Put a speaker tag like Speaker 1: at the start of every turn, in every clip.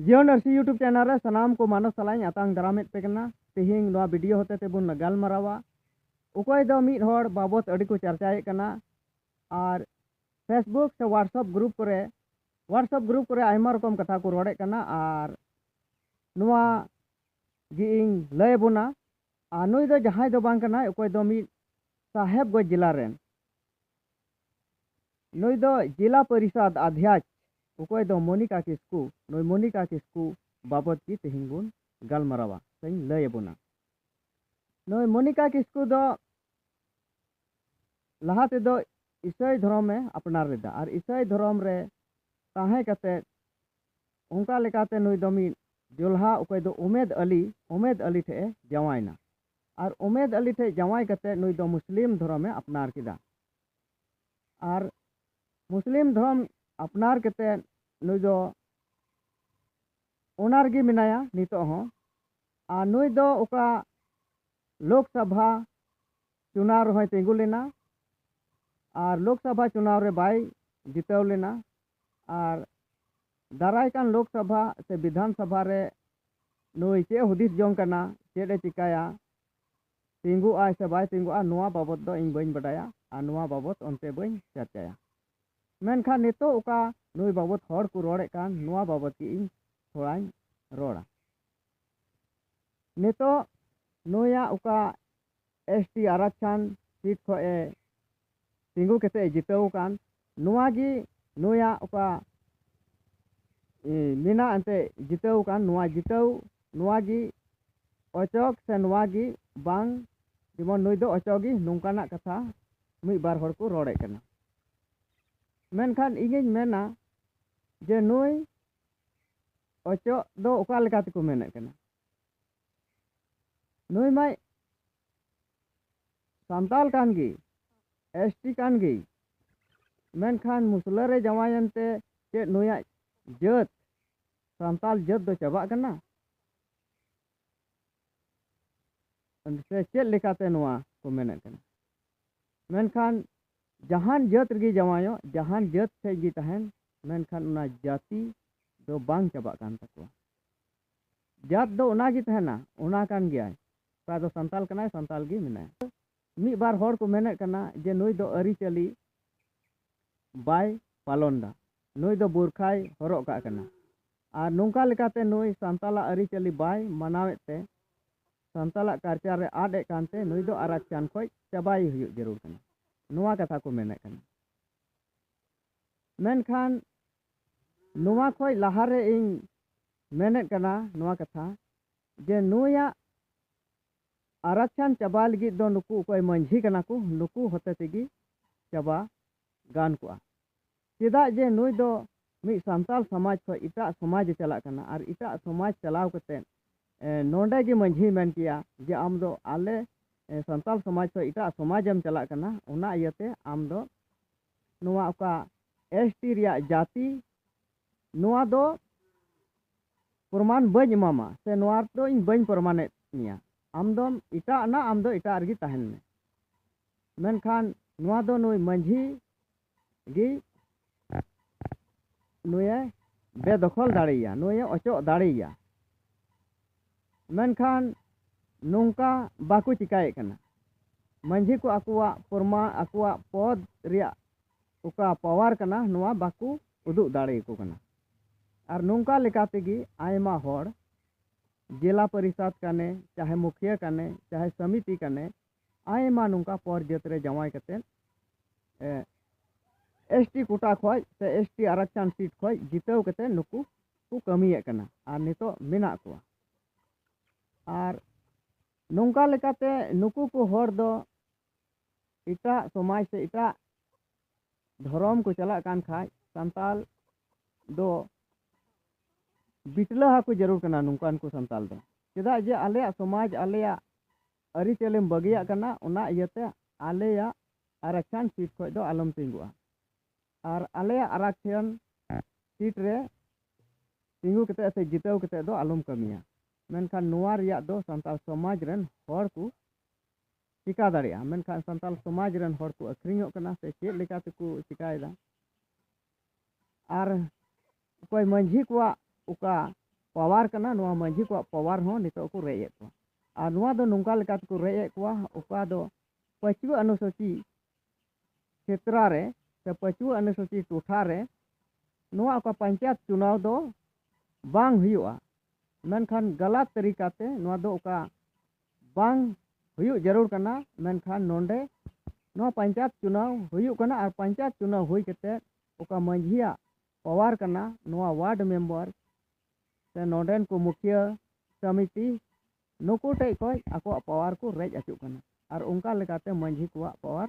Speaker 1: ᱡᱤᱭᱚᱱ ᱟᱨᱥᱤ YouTube channel ᱨᱮ ᱥᱟᱱᱟᱢ ᱠᱚ ᱢᱟᱱᱚᱥ ᱥᱟᱞᱟᱜ ᱤᱧ ᱟᱛᱟᱝ ᱫᱟᱨᱟᱢᱮᱫ ᱯᱮ ᱠᱟᱱᱟ ᱛᱮᱦᱮᱧ ᱱᱚᱣᱟ ᱵᱷᱤᱰᱤᱭᱳ ᱦᱚᱛᱮ ᱛᱮᱵᱚᱱ ᱜᱟᱞᱢᱟᱨᱟᱣᱟ ᱚᱠᱚᱭ ᱫᱚ ᱢᱤᱫ ᱦᱚᱲ ᱵᱟᱵᱚᱛ ᱟᱹᱰᱤ ᱠᱚ ᱪᱟᱨᱪᱟᱭᱮᱫ ᱠᱟᱱᱟ ᱟᱨ ᱯᱷᱮᱥᱵᱩᱠ ᱥᱮ ᱣᱟᱴᱥᱟᱯ ᱜᱨᱩᱯ ᱠᱚᱨᱮ ᱣᱟᱴᱥᱟᱯ ᱜᱨᱩᱯ ᱠᱚᱨᱮ ᱟᱭᱢᱟ ᱨᱚᱠᱚᱢ ᱠᱟᱛᱷᱟ ᱠᱚ ᱨᱚᱲᱮᱫ ᱠᱟᱱᱟ ᱟᱨ ᱱᱚᱣᱟ ᱜᱮ ᱤᱧ ᱞᱟᱹᱭ ᱟᱵᱚᱱᱟ ᱟᱨ ᱱᱩᱭ ᱫᱚ ᱡᱟᱦᱟᱸᱭ ᱫᱚ ᱵᱟᱝ ᱠᱟᱱᱟᱭ ᱚᱠᱚᱭ ᱫᱚ ᱢᱤᱫ ᱥᱟᱦᱮᱵᱽᱜᱚᱸᱡᱽ ᱡᱮᱞᱟ ᱨᱮᱱ ᱱᱩᱭ ᱫᱚ ᱡᱤᱞᱟ ᱯᱚᱨᱤᱥᱚᱫᱽ ᱟᱫᱷᱭᱟᱪ ᱚᱠᱚᱭ ᱫᱚ ᱢᱚᱱᱤᱠᱟ ᱠᱤᱥᱠᱩ ᱱᱩᱭ ᱢᱚᱱᱤᱠᱟ ᱠᱤᱥᱠᱩ ᱵᱟᱵᱚᱛ ᱜᱮ ᱛᱮᱦᱮᱧ ᱵᱚᱱ ᱜᱟᱞᱢᱟᱨᱟᱣᱟ ᱥᱮᱧ ᱞᱟᱹᱭ ᱟᱵᱚᱱᱟ ᱱᱩᱭ ᱢᱚᱱᱤᱠᱟ ᱠᱤᱥᱠᱩ ᱫᱚ ᱞᱟᱦᱟ ᱛᱮᱫᱚ ᱤᱥᱟᱹᱭ ᱫᱷᱚᱨᱚᱢ ᱮ ᱟᱯᱱᱟᱨ ᱞᱮᱫᱟ ᱟᱨ ᱤᱥᱟᱹᱭ ᱫᱷᱚᱨᱚᱢ ᱨᱮ ᱛᱟᱦᱮᱸ ᱠᱟᱛᱮ ᱚᱱᱠᱟ ᱞᱮᱠᱟᱛᱮ ᱱᱩᱭ ᱫᱚ ᱢᱤᱫ ᱡᱚᱞᱦᱟ ᱚᱠᱚᱭ ᱫᱚ ᱩᱢᱮᱫ ᱟᱞᱤ ᱩᱢᱮᱫ ᱟᱞᱤ ᱴᱷᱮᱡ ᱮ ᱡᱟᱶᱟᱭᱮᱱᱟ ᱟᱨ ᱩᱢᱮᱫ ᱟᱞᱤ ᱴᱷᱮᱡ ᱡᱟᱶᱟᱭ ᱠᱟᱛᱮ ᱱᱩᱭ ᱫᱚ ᱢᱩᱥᱞᱤᱢ ᱫᱷᱚᱨᱚᱢ ᱮ ᱟᱯᱱᱟᱨ ᱠᱮᱫᱟ ᱟᱨ ᱢᱩᱥᱞᱤᱢ ᱫᱷᱚᱨᱚᱢ ᱟᱯᱱᱟᱨ ᱠᱟᱛᱮᱫ ᱱᱩᱭ ᱫᱚ ᱚᱱᱟ ᱨᱮᱜᱮ ᱢᱮᱱᱟᱭᱟ ᱱᱤᱛᱚᱜ ᱦᱚᱸ ᱟᱨ ᱱᱩᱭ ᱫᱚ ᱚᱠᱟ ᱞᱳᱠ ᱥᱚᱵᱷᱟ ᱪᱩᱱᱟᱣ ᱨᱮᱦᱚᱸᱭ ᱛᱤᱸᱜᱩ ᱞᱮᱱᱟ ᱟᱨ ᱞᱳᱠ ᱥᱚᱵᱷᱟ ᱪᱩᱱᱟᱣ ᱨᱮ ᱵᱟᱭ ᱡᱤᱛᱟᱹᱣ ᱞᱮᱱᱟ ᱟᱨ ᱫᱟᱨᱟᱭ ᱠᱟᱱ ᱞᱳᱠ ᱥᱚᱵᱷᱟ ᱥᱮ ᱵᱤᱫᱷᱟᱱ ᱥᱚᱵᱷᱟ ᱨᱮ ᱱᱩᱭ ᱪᱮᱫ ᱦᱩᱫᱤᱥ ᱡᱚᱝ ᱠᱟᱱᱟ ᱪᱮᱫ ᱮ ᱪᱤᱠᱟᱹᱭᱟ ᱛᱤᱸᱜᱩᱜ ᱟᱭ ᱥᱮ ᱵᱟᱭ ᱛᱤᱸᱜᱩᱜᱼᱟ ᱱᱚᱣᱟ ᱵᱟᱵᱚᱛ ᱫᱚ ᱤᱧ ᱵᱟᱹᱧ ᱵᱟᱰᱟᱭᱟ ᱟᱨ ᱱᱚᱣᱟ ᱵᱟᱵᱚᱛ ᱚᱱᱛᱮ ᱵᱟᱹᱧ ᱪᱟᱨᱪᱟᱭᱟ᱾ ᱢᱮᱱᱠᱷᱟᱱ ᱱᱤᱛᱚᱜ ᱚᱠᱟ ᱱᱩᱭ ᱵᱟᱵᱚᱛ ᱦᱚᱲ ᱠᱚ ᱨᱚᱲᱮᱫ ᱠᱟᱱ ᱱᱚᱣᱟ ᱵᱟᱵᱚᱛ ᱜᱮ ᱤᱧ ᱛᱷᱚᱲᱟᱧ ᱨᱚᱲᱟ᱾ ᱱᱤᱛᱚᱜ ᱱᱩᱭᱟᱜ ᱚᱠᱟ ᱮᱥ ᱴᱤ ᱟᱨᱟᱠᱪᱷᱟᱱ ᱥᱤᱴ ᱠᱷᱚᱡ ᱮ ᱛᱤᱸᱜᱩ ᱠᱟᱛᱮ ᱮ ᱡᱤᱛᱟᱹᱣ ᱟᱠᱟᱱ ᱱᱚᱣᱟ ᱜᱮ ᱱᱩᱭᱟᱜ ᱚᱠᱟ ᱢᱮᱱᱟᱜ ᱮᱱᱛᱮ ᱡᱤᱛᱟᱹᱣ ᱟᱠᱟᱱ ᱱᱚᱣᱟ ᱡᱤᱛᱟᱹᱣ ᱱᱚᱣᱟ ᱜᱮ ᱚᱪᱚᱜᱽ ᱥᱮ ᱱᱚᱣᱟ ᱜᱮ ᱵᱟᱝ ᱡᱮᱢᱚᱱ ᱱᱩᱭ ᱫᱚ ᱚᱪᱚᱜᱽ ᱜᱮ ᱱᱚᱝᱠᱟᱱᱟᱜ ᱠᱟᱛᱷᱟ ᱢᱤᱫ ᱵᱟᱨ ᱦᱚᱲ ᱠᱚ ᱨᱚᱲᱮᱫ ᱠᱟᱱᱟ ᱢᱮᱱᱠᱷᱟᱱ ᱤᱧᱤᱧ ᱢᱮᱱᱟ ᱡᱮ ᱱᱩᱭ ᱚᱪᱚᱜ ᱫᱚ ᱚᱠᱟ ᱞᱮᱠᱟ ᱛᱮᱠᱚ ᱢᱮᱱᱮᱫ ᱠᱟᱱᱟ ᱱᱩᱭ ᱢᱟᱭ ᱥᱟᱱᱛᱟᱞ ᱠᱟᱱ ᱜᱮ ᱮᱥ ᱴᱤ ᱠᱟᱱ ᱜᱮ ᱢᱮᱱᱠᱷᱟᱱ ᱢᱩᱥᱞᱟᱹ ᱨᱮ ᱡᱟᱶᱟᱭᱮᱱ ᱛᱮ ᱪᱮᱫ ᱱᱩᱭᱟᱜ ᱡᱟᱹᱛ ᱥᱟᱱᱛᱟᱞ ᱡᱟᱹᱛ ᱫᱚ ᱪᱟᱵᱟᱜ ᱠᱟᱱᱟ ᱥᱮ ᱪᱮᱫ ᱞᱮᱠᱟᱛᱮ ᱱᱚᱣᱟ ᱠᱚ ᱢᱮᱱᱮᱫ ᱠᱟᱱᱟ ᱢᱮᱱᱠᱷᱟᱱ ᱡᱟᱦᱟᱱ ᱡᱟᱹᱛ ᱨᱮᱜᱮ ᱡᱟᱶᱟᱭᱚᱜ ᱡᱟᱦᱟᱱ ᱡᱟᱹᱛ ᱴᱷᱮᱡ ᱜᱮ ᱛᱟᱦᱮᱱ ᱢᱮᱱᱠᱷᱟᱱ ᱚᱱᱟ ᱡᱟᱹᱛᱤ ᱫᱚ ᱵᱟᱝ ᱪᱟᱵᱟᱜ ᱠᱟᱱ ᱛᱟᱠᱚᱣᱟ ᱡᱟᱹᱛ ᱫᱚ ᱚᱱᱟᱜᱮ ᱛᱟᱦᱮᱱᱟ ᱚᱱᱟ ᱠᱟᱱ ᱜᱮᱭᱟᱭ ᱚᱠᱟ ᱫᱚ ᱥᱟᱱᱛᱟᱞ ᱠᱟᱱᱟᱭ ᱥᱟᱱᱛᱟᱞ ᱜᱮ ᱢᱮᱱᱟᱭᱟ ᱢᱤᱫ ᱵᱟᱨ ᱦᱚᱲ ᱠᱚ ᱢᱮᱱᱮᱫ ᱠᱟᱱᱟ ᱡᱮ ᱱᱩᱭ ᱫᱚ ᱟᱹᱨᱤᱪᱟᱹᱞᱤ ᱵᱟᱭ ᱯᱟᱞᱚᱱ ᱫᱟ ᱱᱩᱭ ᱫᱚ ᱵᱩᱨᱠᱷᱟᱭ ᱦᱚᱨᱚᱜ ᱠᱟᱜ ᱠᱟᱱᱟ ᱟᱨ ᱱᱚᱝᱠᱟ ᱞᱮᱠᱟᱛᱮ ᱱᱩᱭ ᱥᱟᱱᱛᱟᱞᱟᱜ ᱟᱹᱨᱤᱪᱟᱹᱞᱤ ᱵᱟᱭ ᱢᱟᱱᱟᱣᱮᱫ ᱛᱮ ᱥᱟᱱᱛᱟᱞᱟᱜ ᱠᱟᱞᱪᱟᱨ ᱨᱮ ᱟᱫ ᱮᱫ ᱠᱟᱱᱛᱮ ᱱᱩᱭ ᱫᱚ ᱟᱨᱟᱠᱪᱟᱱ ᱠᱷᱚᱡ ᱪᱟᱵᱟᱭ ᱦᱩᱭᱩᱜ ᱡᱟᱹᱨᱩᱲ ᱠᱟᱱᱟ ᱱᱚᱣᱟ ᱠᱟᱛᱷᱟ ᱠᱚ ᱢᱮᱱᱮᱫ ᱠᱟᱱᱟ ᱢᱮᱱᱠᱷᱟᱱ ᱱᱚᱣᱟ ᱠᱷᱚᱡ ᱞᱟᱦᱟᱨᱮ ᱤᱧ ᱢᱮᱱᱮᱫ ᱠᱟᱱᱟ ᱱᱚᱣᱟ ᱠᱟᱛᱷᱟ ᱡᱮ ᱱᱩᱭᱟᱜ ᱟᱨᱟᱠᱪᱷᱟᱱ ᱪᱟᱵᱟ ᱞᱟᱹᱜᱤᱫ ᱫᱚ ᱱᱩᱠᱩ ᱚᱠᱚᱭ ᱢᱟᱹᱡᱷᱤ ᱠᱟᱱᱟ ᱠᱚ ᱱᱩᱠᱩ ᱦᱚᱛᱮ ᱛᱮᱜᱮ ᱪᱟᱵᱟ ᱜᱟᱱ ᱠᱚᱜᱼᱟ ᱪᱮᱫᱟᱜ ᱡᱮ ᱱᱩᱭ ᱫᱚ ᱢᱤᱫ ᱥᱟᱱᱛᱟᱲ ᱥᱚᱢᱟᱡᱽ ᱠᱷᱚᱱ ᱮᱴᱟᱜ ᱥᱚᱢᱟᱡᱽ ᱮ ᱪᱟᱞᱟᱜ ᱠᱟᱱᱟ ᱟᱨ ᱮᱴᱟᱜ ᱥᱚᱢᱟᱡᱽ ᱪᱟᱞᱟᱣ ᱠᱟᱛᱮ ᱱᱚᱰᱮ ᱜᱮ ᱢᱟᱹᱡᱷᱤ ᱢᱮᱱ ᱠᱮᱭᱟ ᱡᱮ ᱟᱢ ᱫᱚ ᱟᱞᱮ ᱥᱟᱱᱛᱟᱲ ᱥᱚᱢᱟᱡᱽ ᱠᱷᱚᱱ ᱮᱴᱟᱜ ᱥᱚᱢᱟᱡᱽ ᱮᱢ ᱪᱟᱞᱟᱜ ᱠᱟᱱᱟ ᱚᱱᱟ ᱤᱭᱟᱹᱛᱮ ᱟᱢ ᱫᱚ ᱱᱚᱣᱟ ᱚᱠᱟ ᱮᱥ ᱴᱤ ᱨᱮᱭᱟᱜ ᱡᱟᱹᱛᱤ ᱱᱚᱣᱟ ᱫᱚ ᱯᱨᱚᱢᱟᱱ ᱵᱟᱹᱧ ᱮᱢᱟᱢᱟ ᱥᱮ ᱱᱚᱣᱟ ᱫᱚ ᱤᱧ ᱵᱟᱹᱧ ᱯᱨᱚᱢᱟᱱᱮᱫ ᱢᱮᱭᱟ ᱟᱢ ᱫᱚᱢ ᱮᱴᱟᱜ ᱮᱱᱟ ᱟᱢ ᱫᱚ ᱮᱴᱟᱜ ᱨᱮᱜᱮ ᱛᱟᱦᱮᱱ ᱢᱮ ᱢᱮᱱᱠᱷᱟᱱ ᱱᱚᱣᱟ ᱫᱚ ᱱᱩᱭ ᱢᱟᱺᱡᱷᱤ ᱜᱮ ᱱᱩᱭᱮ ᱵᱮᱫᱚᱠᱷᱚᱞ ᱫᱟᱲᱮᱭᱟ ᱱᱩᱭᱮ ᱚᱪᱚᱜ ᱫᱟᱲᱮᱭᱟ ᱢᱮᱱᱠᱷᱟᱱ ᱱᱚᱝᱠᱟ ᱵᱟᱠᱚ ᱪᱤᱠᱟᱹᱭᱮᱫ ᱠᱟᱱᱟ ᱢᱟᱺᱡᱷᱤ ᱠᱚ ᱟᱠᱚᱣᱟᱜ ᱯᱨᱚᱢᱟᱱ ᱟᱠᱚᱣᱟᱜ ᱯᱚᱫᱽ ᱨᱮᱭᱟᱜ ᱚᱠᱟ ᱯᱟᱣᱟᱨ ᱠᱟᱱᱟ ᱱᱚᱣᱟ ᱵᱟᱠᱚ ᱩᱫᱩᱜ ᱫᱟᱲᱮ ᱟᱠᱚ ᱠᱟᱱᱟ ᱟᱨ ᱱᱚᱝᱠᱟ ᱞᱮᱠᱟ ᱛᱮᱜᱮ ᱟᱭᱢᱟ ᱦᱚᱲ ᱡᱮᱞᱟ ᱯᱚᱨᱤᱥᱟᱫᱽ ᱠᱟᱱᱮ ᱪᱟᱦᱮ ᱢᱩᱠᱷᱤᱭᱟᱹ ᱠᱟᱱᱮ ᱪᱟᱦᱮ ᱥᱚᱢᱤᱛᱤ ᱠᱟᱱᱮ ᱟᱭᱢᱟ ᱱᱚᱝᱠᱟ ᱯᱚᱨ ᱡᱟᱹᱛ ᱨᱮ ᱡᱟᱶᱟᱭ ᱠᱟᱛᱮ ᱮᱥ ᱴᱤ ᱠᱳᱴᱟ ᱠᱷᱚᱡ ᱥᱮ ᱮᱥ ᱴᱤ ᱟᱨᱟᱠᱪᱟᱱ ᱥᱤᱴ ᱠᱷᱚᱡ ᱡᱤᱛᱟᱹᱣ ᱠᱟᱛᱮ ᱱᱩᱠᱩ ᱠᱚ ᱠᱟᱹᱢᱤᱭᱮᱫ ᱠᱟᱱᱟ ᱟᱨ ᱱᱤᱛᱚᱜ ᱢᱮᱱᱟᱜ ᱠᱚᱣᱟ ᱟᱨ ᱱᱚᱝᱠᱟ ᱞᱮᱠᱟᱛᱮ ᱱᱩᱠᱩ ᱠᱚ ᱦᱚᱲ ᱫᱚ ᱮᱴᱟᱜ ᱥᱚᱢᱟᱡᱽ ᱥᱮ ᱮᱴᱟᱜ ᱫᱷᱚᱨᱚᱢ ᱠᱚ ᱪᱟᱞᱟᱜ ᱠᱟᱱ ᱠᱷᱟᱡ ᱥᱟᱱᱛᱟᱞ ᱫᱚ ᱵᱤᱴᱞᱟᱹ ᱦᱟᱠᱚ ᱡᱟᱹᱨᱩᱲ ᱠᱟᱱᱟ ᱱᱚᱝᱠᱟᱱ ᱠᱚ ᱥᱟᱱᱛᱟᱞ ᱫᱚ ᱪᱮᱫᱟᱜ ᱡᱮ ᱟᱞᱮᱭᱟᱜ ᱥᱚᱢᱟᱡᱽ ᱟᱞᱮᱭᱟᱜ ᱟᱹᱨᱤᱪᱟᱹᱞᱤᱢ ᱵᱟᱹᱜᱤᱭᱟᱜ ᱠᱟᱱᱟ ᱚᱱᱟ ᱤᱭᱟᱹᱛᱮ ᱟᱞᱮᱭᱟᱜ ᱟᱨᱟᱠᱥᱟᱱ ᱥᱤᱴ ᱠᱷᱚᱡ ᱫᱚ ᱟᱞᱚᱢ ᱛᱤᱸᱜᱩᱜᱼᱟ ᱟᱨ ᱟᱞᱮᱭᱟᱜ ᱟᱨᱟᱠᱥᱟᱱ ᱥᱤᱴ ᱨᱮ ᱛᱤᱸᱜᱩ ᱠᱟᱛᱮ ᱥᱮ ᱡᱤᱛᱟᱹᱣ ᱠᱟᱛᱮ ᱫᱚ ᱟᱞᱚᱢ ᱠᱟᱹᱢᱤᱭᱟ ᱢᱮᱱᱠᱷᱟᱱ ᱱᱚᱣᱟ ᱨᱮᱭᱟᱜ ᱫᱚ ᱥᱟᱱᱛᱟᱲ ᱥᱚᱢᱟᱡᱽ ᱨᱮᱱ ᱦᱚᱲ ᱠᱚ ᱪᱤᱠᱟᱹ ᱫᱟᱲᱮᱭᱟᱜᱼᱟ ᱢᱮᱱᱠᱷᱟᱱ ᱥᱟᱱᱛᱟᱲ ᱥᱚᱢᱟᱡᱽ ᱨᱮᱱ ᱦᱚᱲ ᱠᱚ ᱟᱹᱠᱷᱨᱤᱧᱚᱜ ᱠᱟᱱᱟ ᱥᱮ ᱪᱮᱫ ᱞᱮᱠᱟ ᱛᱮᱠᱚ ᱪᱤᱠᱟᱹᱭᱮᱫᱟ ᱟᱨ ᱚᱠᱚᱭ ᱢᱟᱺᱡᱷᱤ ᱠᱚᱣᱟᱜ ᱚᱠᱟ ᱯᱟᱣᱟᱨ ᱠᱟᱱᱟ ᱱᱚᱣᱟ ᱢᱟᱺᱡᱷᱤ ᱠᱚᱣᱟᱜ ᱯᱟᱣᱟᱨ ᱦᱚᱸ ᱱᱤᱛᱳᱜ ᱠᱚ ᱨᱮᱡ ᱮᱫ ᱠᱚᱣᱟ ᱟᱨ ᱱᱚᱣᱟ ᱫᱚ ᱱᱚᱝᱠᱟ ᱞᱮᱠᱟ ᱛᱮᱠᱚ ᱨᱮᱡ ᱮᱫ ᱠᱚᱣᱟ ᱚᱠᱟ ᱫᱚ ᱯᱟᱹᱪᱩᱣᱟᱹ ᱟᱹᱱᱩᱥᱩᱪᱤ ᱠᱷᱮᱛᱨᱟ ᱨᱮ ᱥᱮ ᱯᱟᱹᱪᱩᱣᱟᱹ ᱟᱹᱱᱩᱥᱩᱪᱤ ᱴᱚᱴᱷᱟ ᱨᱮ ᱱᱚᱣᱟ ᱚᱠᱟ ᱯᱚᱧᱪᱟᱭᱮᱛ ᱪᱩᱱᱟᱣ ᱫᱚ ᱵᱟᱝ ᱦᱩᱭᱩᱜᱼᱟ ᱢᱮᱱᱠᱷᱟᱱ ᱜᱟᱞᱟᱛ ᱛᱟᱹᱨᱤᱠᱟᱛᱮ ᱱᱚᱣᱟ ᱫᱚ ᱚᱠᱟ ᱵᱟᱝ ᱦᱩᱭᱩᱜ ᱡᱟᱹᱨᱩᱲ ᱠᱟᱱᱟ ᱢᱮᱱᱠᱷᱟᱱ ᱱᱚᱰᱮ ᱱᱚᱣᱟ ᱯᱚᱧᱪᱟᱭᱮᱛ ᱪᱩᱱᱟᱣ ᱦᱩᱭᱩᱜ ᱠᱟᱱᱟ ᱟᱨ ᱯᱚᱧᱪᱟᱭᱮᱛ ᱪᱩᱱᱟᱣ ᱦᱩᱭ ᱠᱟᱛᱮ ᱚᱠᱟ ᱢᱟᱺᱡᱷᱤᱭᱟᱜ ᱯᱟᱣᱟᱨ ᱠᱟᱱᱟ ᱱᱚᱣᱟ ᱳᱣᱟᱨᱰ ᱢᱮᱢᱵᱟᱨ ᱥᱮ ᱱᱚᱰᱮᱱ ᱠᱚ ᱢᱩᱠᱷᱤᱭᱟᱹ ᱥᱚᱢᱤᱛᱤ ᱱᱩᱠᱩ ᱴᱷᱮᱡ ᱠᱷᱚᱡ ᱟᱠᱚᱣᱟᱜ ᱯᱟᱣᱟᱨ ᱠᱚ ᱨᱮᱡ ᱚᱪᱚᱜ ᱠᱟᱱᱟ ᱟᱨ ᱚᱱᱠᱟ ᱞᱮᱠᱟᱛᱮ ᱢᱟᱺᱡᱷᱤ ᱠᱚᱣᱟᱜ ᱯᱟᱣᱟᱨ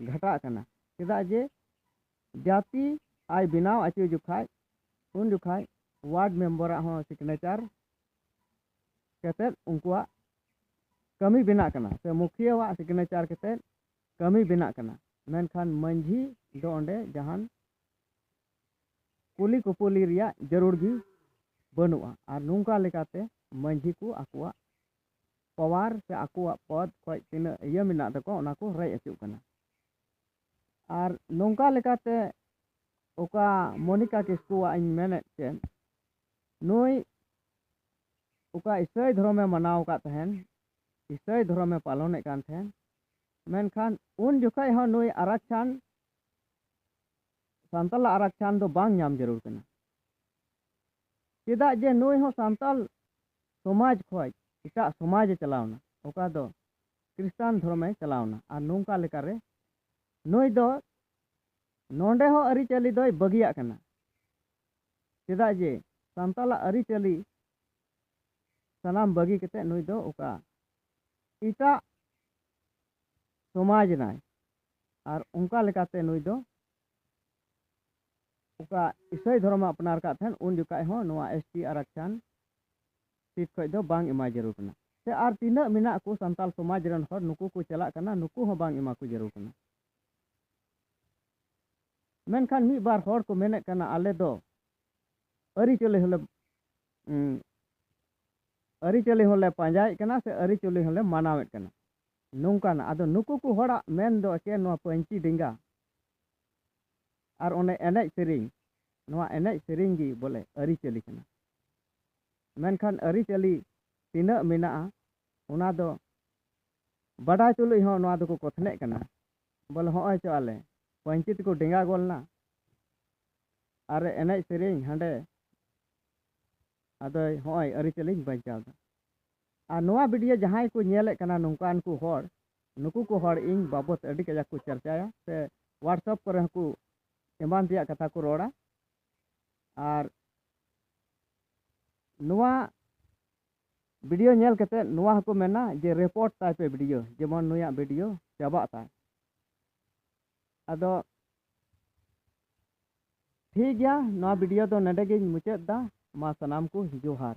Speaker 1: ᱜᱷᱟᱴᱟᱜ ᱠᱟᱱᱟ ᱪᱮᱫᱟᱜ ᱡᱮ ᱡᱟᱹᱛᱤ ᱟᱭ ᱵᱮᱱᱟᱣ ᱚᱪᱚ ᱡᱚᱠᱷᱟᱡ ᱩᱱ ᱡᱚᱠᱷᱟᱡ ᱳᱣᱟᱨᱰ ᱢᱮᱢᱵᱟᱨᱟᱜ ᱦᱚᱸ ᱥᱤᱜᱽᱱᱮᱪᱟᱨ ᱠᱟᱛᱮᱫ ᱩᱱᱠᱩᱣᱟᱜ ᱠᱟᱹᱢᱤ ᱵᱮᱱᱟᱜ ᱠᱟᱱᱟ ᱥᱮ ᱢᱩᱠᱷᱤᱭᱟᱹᱣᱟᱜ ᱥᱤᱜᱽᱱᱮᱪᱟᱨ ᱠᱟᱛᱮᱫ ᱠᱟᱹᱢᱤ ᱵᱮᱱᱟᱜ ᱠᱟᱱᱟ ᱢᱮᱱᱠᱷᱟᱱ ᱢᱟᱺᱡᱷᱤ ᱫᱚ ᱚᱸᱰᱮ ᱡᱟᱦᱟᱱ ᱠᱩᱞᱤ ᱠᱩᱯᱩᱞᱤ ᱨᱮᱭᱟᱜ ᱡᱟᱹᱨᱩᱲ ᱜᱮ ᱵᱟᱹᱱᱩᱜᱼᱟ ᱟᱨ ᱱᱚᱝᱠᱟ ᱞᱮᱠᱟᱛᱮ ᱢᱟᱺᱡᱷᱤ ᱠᱚ ᱟᱠᱚᱣᱟᱜ ᱯᱟᱣᱟᱨ ᱥᱮ ᱟᱠᱚᱣᱟᱜ ᱯᱚᱫ ᱠᱷᱚᱱ ᱛᱤᱱᱟᱹᱜ ᱤᱭᱟᱹ ᱢᱮᱱᱟᱜ ᱛᱟᱠᱚᱣᱟ ᱚᱱᱟ ᱠᱚ ᱨᱮᱡ ᱦᱚᱪᱚᱜ ᱠᱟᱱᱟ ᱟᱨ ᱱᱚᱝᱠᱟ ᱞᱮᱠᱟᱛᱮ ᱚᱠᱟ ᱢᱚᱱᱤᱠᱟ ᱠᱤᱥᱠᱩᱣᱟᱜ ᱤᱧ ᱢᱮᱱᱮᱫ ᱛᱮ ᱱᱩᱭ ᱚᱠᱟ ᱤᱥᱟᱹᱭ ᱫᱷᱚᱨᱚᱢᱮ ᱢᱟᱱᱟᱣ ᱟᱠᱟᱫ ᱛᱟᱦᱮᱱ ᱤᱥᱟᱹᱭ ᱫᱷᱚᱨᱚᱢᱮ ᱯᱟᱞᱚᱱᱮᱫ ᱠᱟᱱ ᱛᱟᱦᱮᱱ ᱢᱮᱱᱠᱷᱟᱱ ᱩᱱ ᱡᱚᱠᱷᱚᱡ ᱦᱚᱸ ᱱᱩᱭ ᱟᱨᱟᱠᱪᱷᱟᱱ ᱥᱟᱱᱛᱟᱞᱟᱜ ᱟᱨᱟᱠᱪᱷᱟᱱ ᱫᱚ ᱵᱟᱝ ᱧᱟᱢ ᱡᱟᱹᱨᱩᱲ ᱠᱟᱱᱟ ᱪᱮᱫᱟᱜ ᱡᱮ ᱱᱩᱭ ᱦᱚᱸ ᱥᱟᱱᱛᱟᱞ ᱥᱚᱢᱟᱡᱽ ᱠᱷᱚᱡ ᱮᱴᱟᱜ ᱥᱚᱢᱟᱡᱽ ᱮ ᱪᱟᱞᱟᱣᱱᱟ ᱚᱠᱟ ᱫᱚ ᱠᱨᱤᱥᱴᱟᱱ ᱫᱷᱚᱨᱚᱢᱮ ᱪᱟᱞᱟᱣᱱᱟ ᱟᱨ ᱱᱚᱝᱠᱟ ᱞᱮᱠᱟᱨᱮ ᱱᱩᱭ ᱫᱚ ᱱᱚᱰᱮ ᱦᱚᱸ ᱟᱹᱨᱤᱪᱟᱹᱞᱤ ᱫᱚᱭ ᱵᱟᱹᱜᱤᱭᱟᱜ ᱠᱟᱱᱟ ᱪᱮᱫᱟᱜ ᱡᱮ ᱥᱟᱱᱛᱟᱞᱟᱜ ᱟᱹᱨᱤ ᱪᱟᱹᱞᱤ ᱥᱟᱱᱟᱢ ᱵᱟᱹᱜᱤ ᱠᱟᱛᱮ ᱱᱩᱭ ᱫᱚ ᱚᱠᱟ ᱮᱴᱟᱜ ᱥᱚᱢᱟᱡᱽ ᱱᱟᱭ ᱟᱨ ᱚᱱᱠᱟ ᱞᱮᱠᱟᱛᱮ ᱱᱩᱭ ᱫᱚ ᱚᱠᱟ ᱤᱥᱟᱹᱭ ᱫᱷᱚᱨᱚᱢ ᱟᱯᱱᱟᱨ ᱠᱟᱜ ᱛᱟᱦᱮᱱ ᱩᱱ ᱡᱚᱠᱷᱟᱡ ᱦᱚᱸ ᱱᱚᱣᱟ ᱮᱥ ᱴᱤ ᱟᱨᱟᱠᱪᱷᱟᱱ ᱥᱤᱴ ᱠᱷᱚᱡ ᱫᱚ ᱵᱟᱝ ᱮᱢᱟᱭ ᱡᱟᱹᱨᱩᱲ ᱠᱟᱱᱟ ᱥᱮ ᱟᱨ ᱛᱤᱱᱟᱹᱜ ᱢᱮᱱᱟᱜ ᱠᱚ ᱥᱟᱱᱛᱟᱞ ᱥᱚᱢᱟᱡᱽ ᱨᱮᱱ ᱦᱚᱲ ᱱᱩᱠᱩ ᱠᱚ ᱪᱟᱞᱟᱜ ᱠᱟᱱᱟ ᱱᱩᱠᱩ ᱦᱚᱸ ᱵᱟᱝ ᱮᱢᱟ ᱠᱚ ᱡᱟᱹᱨᱩᱲ ᱠᱟᱱᱟ ᱢᱮᱱᱠᱷᱟᱱ ᱢᱤᱫ ᱵᱟᱨ ᱦᱚᱲ ᱠᱚ ᱢᱮᱱᱮᱫ ᱠᱟᱱᱟ ᱟᱞᱮ ᱫᱚ ᱟᱹᱨᱤᱪᱟᱹᱞᱤ ᱦᱚᱸᱞᱮ ᱟᱹᱨᱤᱪᱟᱹᱞᱤ ᱦᱚᱸᱞᱮ ᱯᱟᱸᱡᱟᱭᱮᱫ ᱠᱟᱱᱟ ᱥᱮ ᱟᱹᱨᱤᱪᱟᱹᱞᱤ ᱦᱚᱸᱞᱮ ᱢᱟᱱᱟᱣᱮᱫ ᱠᱟᱱᱟ ᱱᱚᱝᱠᱟᱱᱟᱜ ᱟᱫᱚ ᱱᱩᱠᱩ ᱠᱚ ᱦᱚᱲᱟᱜ ᱢᱮᱱ ᱫᱚ ᱪᱮᱫ ᱱᱚᱣᱟ ᱯᱟᱹᱧᱪᱤ ᱰᱮᱸᱜᱟ ᱟᱨ ᱚᱱᱮ ᱮᱱᱮᱡ ᱥᱮᱨᱮᱧ ᱱᱚᱣᱟ ᱮᱱᱮᱡ ᱥᱮᱨᱮᱧ ᱜᱮ ᱵᱚᱞᱮ ᱟᱹᱨᱤᱪᱟᱹᱞᱤ ᱠᱟᱱᱟ ᱢᱮᱱᱠᱷᱟᱱ ᱟᱹᱨᱤᱪᱟᱹᱞᱤ ᱛᱤᱱᱟᱹᱜ ᱢᱮᱱᱟᱜᱼᱟ ᱚᱱᱟ ᱫᱚ ᱵᱟᱰᱟᱭ ᱛᱩᱞᱩᱡ ᱦᱚᱸ ᱱᱚᱣᱟ ᱫᱚᱠᱚ ᱠᱚᱛᱷᱱᱮᱜ ᱠᱟᱱᱟ ᱵᱚᱞᱮ ᱦᱚᱸᱜᱼᱚᱭ ᱪᱚ ᱟᱞᱮ ᱯᱟᱹᱧᱪᱤ ᱛᱮᱠᱚ ᱰᱮᱸᱜᱟ ᱜᱚᱫ ᱮᱱᱟ ᱟᱨ ᱮᱱᱮᱡ ᱥᱮᱨᱮᱧ ᱦᱟᱸᱰᱮ ᱟᱫᱚᱭ ᱦᱚᱸᱜᱼᱚᱭ ᱟᱹᱨᱤᱪᱟᱹᱞᱤᱧ ᱵᱟᱧᱪᱟᱣᱫᱟ ᱟᱨ ᱱᱚᱣᱟ ᱵᱷᱤᱰᱤᱭᱳ ᱡᱟᱦᱟᱸᱭ ᱠᱚ ᱧᱮᱞᱮᱫ ᱠᱟᱱᱟ ᱱᱚᱝᱠᱟᱱ ᱠᱚ ᱦᱚᱲ ᱱᱩᱠᱩ ᱠᱚ ᱦᱚᱲ ᱤᱧ ᱵᱟᱵᱚᱛ ᱟᱹᱰᱤ ᱠᱟᱡᱟᱠ ᱠᱚ ᱪᱟᱨᱪᱟᱭᱟ ᱥᱮ ᱦᱳᱣᱟᱴᱥᱟᱯ ᱠᱚᱨᱮ ᱦᱚᱸᱠᱚ ᱮᱢᱟᱱ ᱛᱮᱭᱟᱜ ᱠᱟᱛᱷᱟ ᱠᱚ ᱨᱚᱲᱟ ᱟᱨ ᱱᱚᱣᱟ ᱵᱤᱰᱤᱭᱳ ᱧᱮᱞ ᱠᱟᱛᱮ ᱱᱚᱣᱟ ᱦᱚᱸᱠᱚ ᱢᱮᱱᱟ ᱡᱮ ᱨᱮᱯᱚᱨᱴ ᱛᱟᱭ ᱯᱮ ᱵᱤᱰᱤᱭᱳ ᱡᱮᱢᱚᱱ ᱱᱩᱭᱟᱜ ᱵᱤᱰᱤᱭᱳ ᱪᱟᱵᱟᱜ ᱛᱟᱭ ᱟᱫᱚ ᱴᱷᱤᱠ ᱜᱮᱭᱟ ᱱᱚᱣᱟ ᱵᱤᱰᱤᱭᱳ ᱫᱚ ᱱᱚᱰᱮ ᱜᱤᱧ ᱢᱩᱪᱟᱹᱫ ᱫᱟ ᱢᱟ ᱥᱟᱱᱟᱢ ᱠᱚ ᱡᱚᱦᱟᱨ